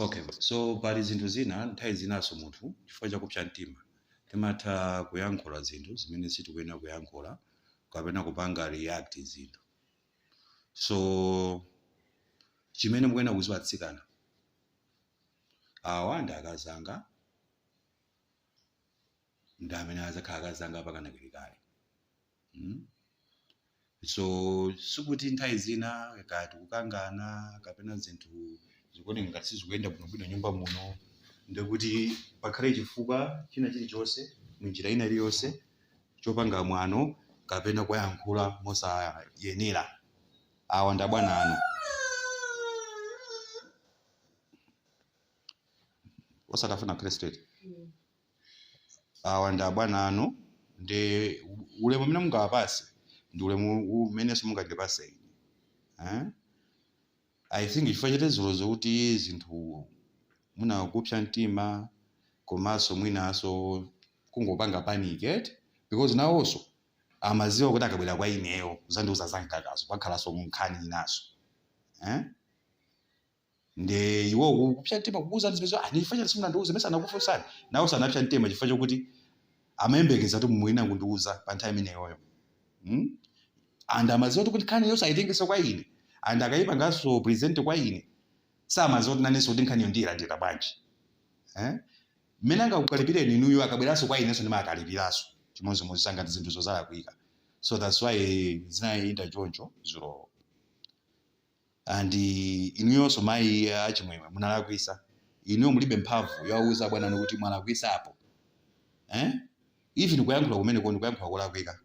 Okay, so pali zinthu zina nthawi zinanso munthu chifukwa cha kupsa mtima timatha kuyankhula zinthu zimene sitikuyenera kuyankhula kapena kupanga react zinthu. So chimene mukuyenera kuziwa atsikana awa ndi akazi anga ndi amene adzakhala akazi anga mpaka kalekale. mm? so sikuti nthawi zina ngati tikukangana kapena zinthu zikuoneka ngati sizikuyenda bwinobwino nyumba muno ndikuti pakhale chifukwa china chilichonse munjira ina iliyonse chopanga mwano kapena kuwayankhula mosayenera awa ndi abwana anu osatafuna akhale straight awa ndi abwana anu ndi ulemu umene mungawapase ndi ulemu umenenso mungandipase ine eh? i think chifukwa cha dzulozo kuti zinthu mwina kupsa mtima komanso mwinanso kungopanga panic eti because nawonso amaziwa kuti akabwera kwa ineyo kuzandiuza zangakazo pakhalanso nkhani inaso eh? Ndiye iwo ku- kupsa mtima kukuwuzani zimenezo ah, chifukwa chani simunandiwuze mesa ndinakufunsani nawo sanapsa mtima chifukwa chokuti amayembekeza kuti mumayenera kundiwuza pa nthawi imeneyoyo hmm? and amaziwa kuti nkhani yonse ayitengeso kwa ine and akayipanganso present kwa ine samaziwa kuti nanenso kuti nkhaniyo ndiyilandira bwanji eh? mmene angakukalipireni inuyo akabweranso kwa inenso ndimakalipiraso chimodzimodzi ngati zinthuzo zalakwika so that's why zinayenda choncho zulowo and inuyonso mayi a chimwemwe munalakwisa inuyo mulibe mphamvu yowauza abwana anu kuti mwalakwisa apo eh? even kuyankhula kumeneko ndi kuyankhula kolakwika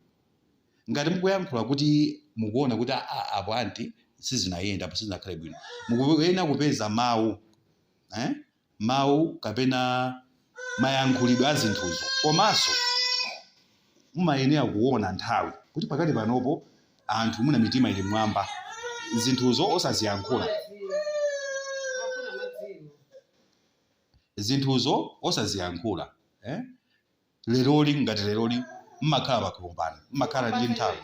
ngati mukuyankhula kuti mukuona kuti "Ah, ah, apo anti sizinayende apo sizinakhale bwino mukuyenera kupeza mawu eh? mawu kapena mayankhulidwe a zinthuzo komanso mumayenera kuona nthawi kuti pakati panopo anthu mwina mitima ili mwamba zinthuzo osaziyankhula zinthuzo osaziyankhula eh? leroli ngati leroli mmakhala pakhompani mmakhala ndi nthawi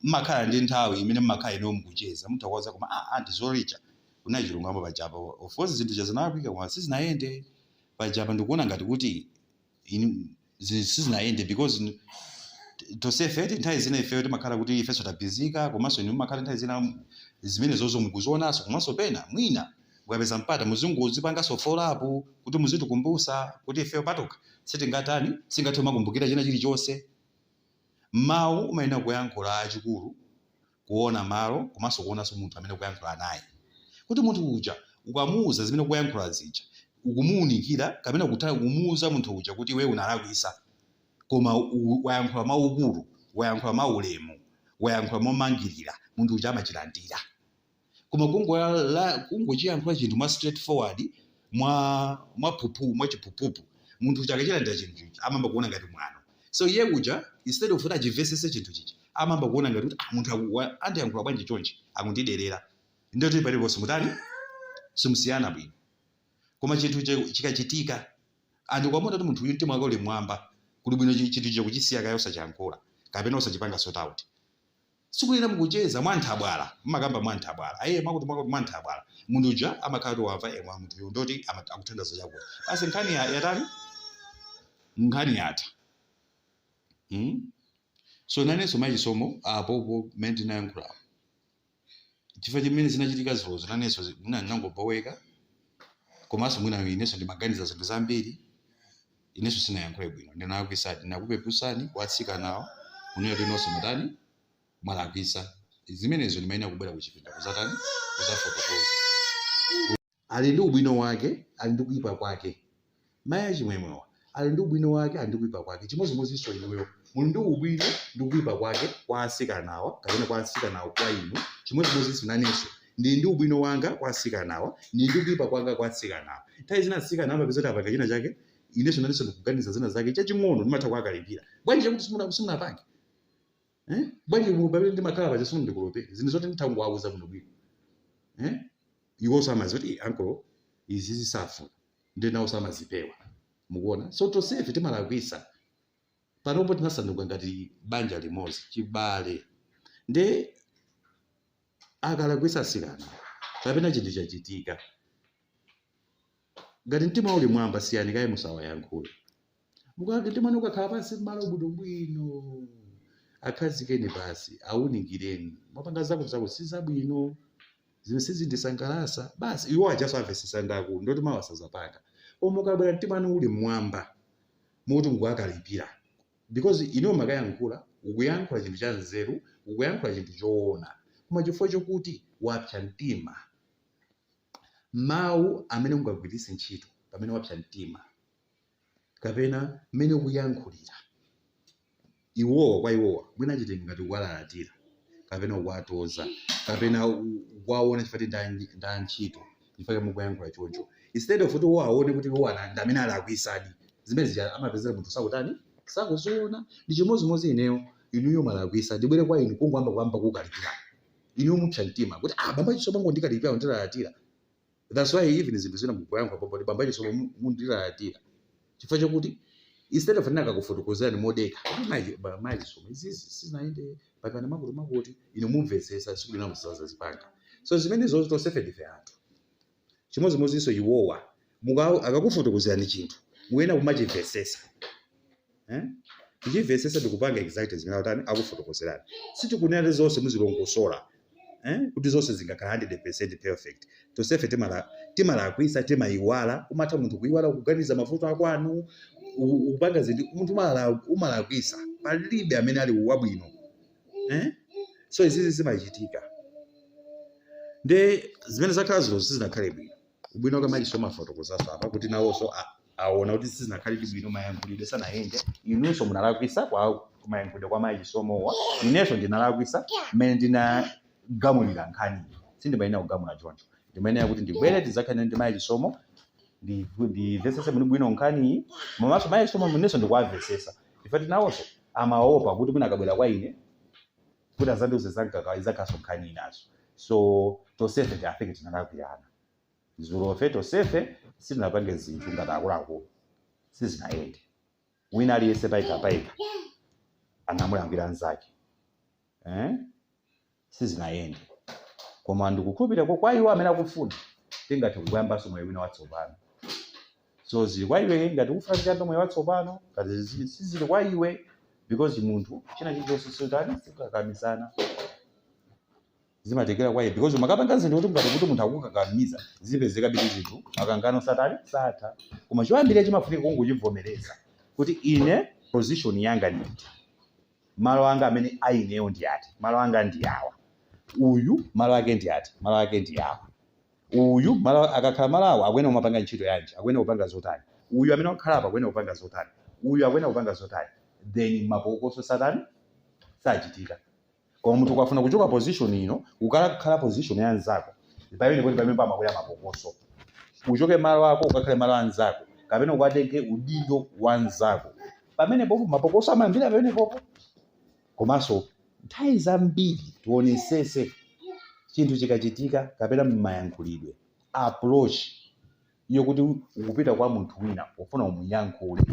mmakhala ndi nthawi imene mmakhala inewo mukucheza mutha kuwauza koma a ah, anti dzulo lija kunena chilungamo pajapa of course zinthu zija zinalakwika koma sizinayende pajapa ndikuona ngati kuti sizinayende because tosefe nthawi zina ifeyo timakhala kuti ifenso tabhizika komanso inu mumakhala nthawi zina zimenezozo mukuzionanso komanso pena mwina mukapeza mpata muzingozipanganso follow up kuti muzitikumbusa kuti ifeyo patokha sitingatani singathe kumakumbukira china chilichonse mmawu umayenera kuyankhula achikulu kuona malo komanso kuonanso munthu amene ukuyankhula naye kuti munthu uja ukamuuza zimene ukuyankhula zija ukumuunikira kapena kutha kumuuza munthu uja kuti iwe unalakwisa koma u- wayankhula mwaukulu wayankhula mwaulemu wayankhula momangirira munthu uja amachilandira koma kungochiyankhula chinthu mwa straight forward mwa mwaphuphu mwachiphuphuphu munthu uja akachilandira chinthu chija amayamba kuona ngati mwano so iye uja instead of kuti achimvesese chinthu chija amayamba kuona ngati kuti ah, munthu aku- wa- andiyankhula bwanji chonchi akundiderera ndoti paliponse simutani simusiyana bwino koma chinthu che- chikachitika ndiye kwawona kuti munthu uyu mtima wake uli mwamba kuli bwino chi- chinthu chija kuchisiya kaya osachiyankhula kapena osachipanga sort out Sikuyena mukucheza mwa nthabwala, mumakamba mwa nthabwala, ee mwakuti mwakuti mwa nthabwala. Munthu uja amakhala kuti wamva ee koma munthuyu ndoti ama- akuthanda za chakuti. Basi nkhani ya- yatani? Nkhani yatha. Hmm? So nanenso amayi a Chisomo apopo mmene ndinayankhulapo. Chifukwa chimene zinachitika dzulozo nanenso zi- mwina ndinangoboweka komanso mwina inenso ndimaganiza zinthu zambiri. Ineso sinayankhule bwino ndinalakwisa ndinakupepusani kwa atsikanawo kunena kuti nonse mwatani mwalakwisa zimenezo ndimayenera kubwera kuchipinda kuzatani kuzafotokoza. Ali ndi ubwino wake ali ndi kuipa kwake mai achimwemwewa ali ndi ubwino wake ali ndi kuipa kwake chimodzimodzinso inuyo muli ndi ubwino ndi kuipa kwake kwa atsikanawa kapena kwa atsikanawo kwa inu chimodzimodzinso nanenso ndili ndi ubwino wanga kwa atsikanawa, ndili ndi kuipa kwanga kwa atsikanawa. Nthawi zina atsikana amapeza kuti apanga china chake, inenso nanenso ndikuganiza zina zake chaching'ono ndimatha kuwakalipira. Bwanji chakuti simuna- simunapange? Eh? Bwanji mu- pamene ndimakhala paja simundikolopere? Zinthu zoti nditha kungowauza bwinobwino. Eh? Iwonso amaziwa kuti "Eh, ankolo izizi safuna. Ndiye nawonso amazipewa. Mukuona? So tonsefe timalakwitsa. panopo tinasanduka ngati banja limodzi chibale nde akalakwisa asikana kapena chinthu chachitika ngati mtima uli mwamba siyani kaye musawayankhule mukati mtima wanu ukakhala pansi mmalo bwinobwino akhazikeni pansi awunikireni mwapanga zakutizakuti si zabwino zimene sizindisangalatsa basi iwo ajaso amvesesa ndaku ndoti mawa sazapanga koma mukabwera mtima wanu uli mmwamba moti mukuwakalipira because inuyo umakayankhula ukuyankhula chinthu cha nzeru ukuyankhula chinthu choona koma chifukwa chokuti wapsa mtima mawu amene ungagwiritse ntchito pamene wapsa mtima kapena mmene ukuyankhulira iwowa kwa iwowa mwina achitenge ngati kuwalalatira kapena kuwatoza kapena ku- kuwaona chifukwa kuti ndi antchito chifukwa mukuyankhula choncho instead of kuti iwo aone kuti iwo ana- ndi amene alakwisadi zimene zija amapezera munthu sakutani sakuziona ndi chimodzimodzi ineyo inuyo malakwisa ndibwere kwa inu kungoyamba kuyamba kukalipira inuyo mupsa mtima kuti ah bambo a Chisomo bangondikalipira kundilalatira That's why even zinthu zina mukuyankhula pomwe kuti bambo a Chisomo mundilalatira chifukwa chakuti instead of akakufotokozerani modekha kuti mayi a Chisomo izi sizinayende pakana makuti makuti inu mumvetsetsa tsiku lina musazazipanganso zimenezo tonsefe ndife anthu chimodzimodzinso iwowa muka- akakufotokozerani chinthu muyenera kumachimvetsetsa eh? Kuchimvetsetsa ndikupanga exactly zimene akutani akufotokozerani. Sitikunena kuti zonse muzilongosola eh? kuti zonse zingakhala 100% perfect. Tonsefe timala timalakwisa timaiwala, umatha munthu kuiwala kuganiza mavuto akwanu u- kupanga zinthu munthu umala- umalakwisa palibe amene ali wabwino eh? so izizi zimachitika nde zimene zakhala zilozo sizinakhale bwino ubwino wake mayi a Chisomo afotokozanso apa kuti nawonso a- aona kuti sizinakhalidi bwino mayankhulidwe sanayende inunso munalakwisa kwa mayankhulidwe kwa mayi a Chisomowa inenso ndinalakwisa mmene ndinagamulira nkhani sindimayenera kugamula choncho ndimayenera kuti ndibwere tizakhale ndi mayi a Chisomo ndimvesese bwino nkhaniyi komanso mayi a Chisomo inenso ndikuwamvesesa chifukwa choti nawonso amaopa kuti mwina akabwera kwa ine kuti azandiuze za mkaka izakhaso nkhani inaso so tosefe ti- i think tinalakwirana zulofe tosefe sitinapange zinthu ngati akuluakulu sizinayende wina aliyense payekha payekha anamulakwira mnzake eh? sizinayende koma ndikukhulupirira kwa iwo amene akufuna tingathe kuyambanso moyo wina watsopano so zili kwa iwe ngati ukufuna kuyamba moyo watsopano ngati zizi- sizili kwa iwe because munthu china chilichonse sotani sikakamizana zimatengera kwa iwe because umakapanga zinthu kuti ngati kuti munthu akukakamiza zipezekabe kuti zinthu makangano satani satha koma choyambirira chimafunika kungochivomereza kuti ine position yanga ndi iti malo anga amene aineyo ndi ati malo anga ndi awa uyu malo ake ndi ati malo ake ndi awa Uyu, malo, akakhala malo awa, akuyenera kumapanga ntchito yanji, akuyenera kupanga zotani? Uyu amene wakhala apa akuyenera kupanga zotani? Uyu akuyenera kupanga zotani? Then mapokoso satani? Sachitika. Koma munthu ukafuna kuchoka position ino, ukakhale position ya nzako, pamene kuti pamene pamakwera mapokoso. Uchoke malo ako ukakhale malo a nzako, kapena ukatenge udindo wa nzako. Pamenepopo mapokoso amayambira pamenepopo. Komanso nthawi zambiri tionesese chinthu chikachitika kapena mmayankhulidwe, approach, yokuti ukupita kwa munthu wina ufuna umuyankhule,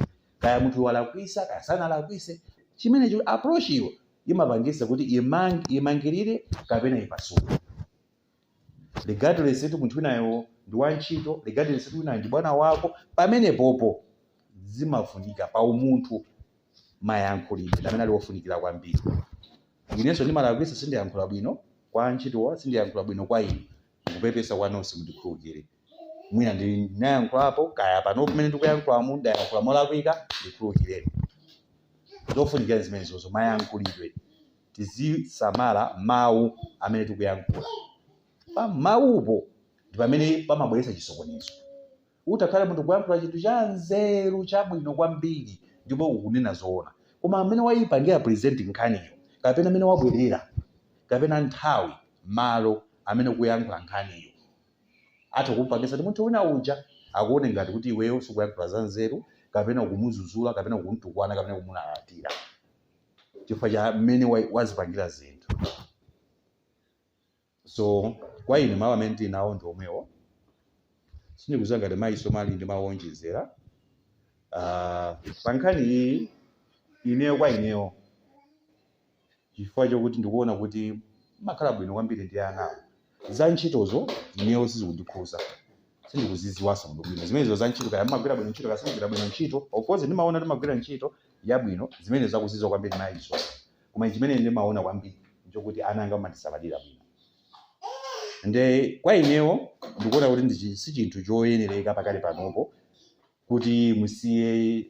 kaya munthu walakwisa kaya sanalakwise, chimenecho, approach yo imapangisa kuti imangirire kapena ipasule. regardless kuti munthu winayo ndi wantchito regardless kuti winayo ndi bwana wako pamenepopo zimafunika pa umunthu mayankhulidwe ndi amene ali ofunikira kwambiri inenso ndimalakwitsa sindiyankhula bwino kwa antchitowa sindiyankhula bwino kwa inu ndikupepesa kwa nonse mundikhululukire mwina ndinayankhulapo kaya pano pamene ndikuyankhulamu ndayankhula molakwika ndikhululukireni zofunikira zimenezozo mayankhulidwe tizisamala mawu amene tikuyankhula. Pa mawupo ndi pamene pamabweretsa chisokonezo. Utakhala munthu kuyankhula chinthu chanzeru chabwino kwambiri ndipo ukunena zoona, koma mmene wayipangira present nkhaniyo kapena mmene wabwerera kapena nthawi, malo amene ukuyankhula nkhaniyo atha kumpangitsa kuti munthu wina uja akuone ngati kuti iweyo sukuyankhula zanzeru kapena ukumuzuzula kapena ukumtukwana kapena kumulalatira. chifukwa cha mmene wazipangira zinthu so kwa ine mawu amene ndinawo ndi omwewo sindikuziwa ngati mayi Somali ali ndi mawu onjezera Ah, pa nkhani iyi ineyo kwa ineyo chifukwa chokuti ndikuona kuti makhala bwino kwambiri ndi anawo Za ntchitozo ineyo sizikundikhuza. Sindikuzidziwanso bwinobwino zimenezo za ntchito, kaya mumagwira bwino ntchito, kaya simugwira bwino ntchito. Of course ndimaona kuti mumagwira ntchito yabwino, zimenezo akuzidziwa kwambiri mayi akewa. Koma chimene ine ndimaona kwambiri nchokuti ana anga mumandisamalira bwino. Nde kwa inewo ndikuona kuti si chinthu choyenereka pakali panopo kuti musiye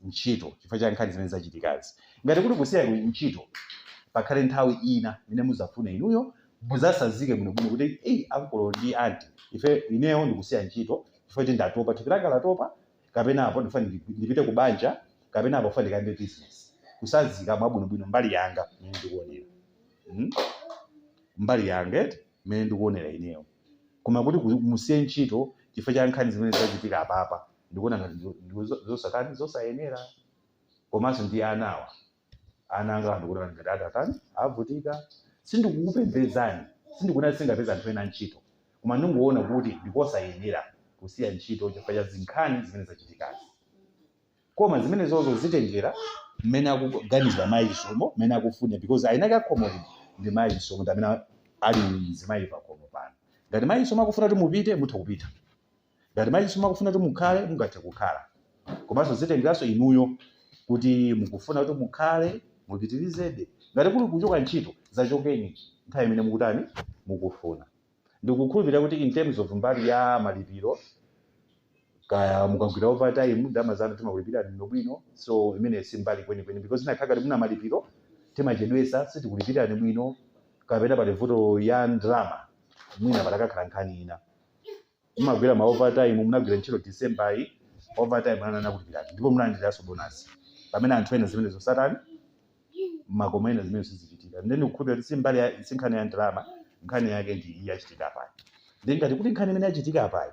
ntchito chifukwa cha nkhani zimene zachitikazi. Ngati kuli kusiya ntchito, pakhale nthawi ina imene muzafuna inuyo muzasazike bwino bwino kuti eyi ankolo ndi anti ife ineyo ndikusiya ntchito chifukwa kuti ndatopa thupi langa latopa kapena apo ndifuna ndipite ku banja kapena apo ndifuna ndikayambe business kusazika mwabwino bwino mbali yanga mmene ndikuonera hmm? mbali yanga mmene ndikuonera ineyo Koma kuti musiye ntchito chifukwa cha nkhani zimene zachitika apapa ndikuona ngati zosatani zosayenera komanso ndi anawa ana angawa ndikuona ngati atatani avutika sindikukupembedzani sindikuona sindingapeze anthu ena antchito koma ndingoona kuti ndikosayenera kusiya ntchito chifukwa cha nkhani zimene zachitikazi koma zimenezozo zitengera mmene akuganizira mayi chisomo mmene akufuna because eni ake a khomo lino ndi mayi chisomo ndi amene ali mzimayi pakhomo pano ngati mayi chisomo akufuna kuti mupite mutha kupita ngati mayi chisomo akufuna kuti mukhale mungathe kukhala komanso zitengeranso inuyo kuti mukufuna kuti mukhale mupitirizebe ngati kuli kuchoka ntchito mudzachoke nthawi imene mukutani mukufuna ndikukhulupilira kuti in terms of mbali ya malipiro kaya mukagwira overtime ndalama zanu timakulipirani bwinobwino so imeneyo si mbali kwenikweni because zinakakhala kuti mwina malipiro timachedwesa sitikulipirani bwino kapena pali vuto ya ndalama mwina patakakhala nkhani ina mumagwira ma overtime munagwira ntchito December yi overtime anakulipirani ndipo munalandiraso bonus pamene anthu ena zimenezo satani makomo ena zimenezo sizichitika nde ndikukhulupira kuti si mbali ya si nkhani ya ndalama nkhani yake ndi iyi yachitika apayi nde ngati kuti nkhani imene yachitika apayi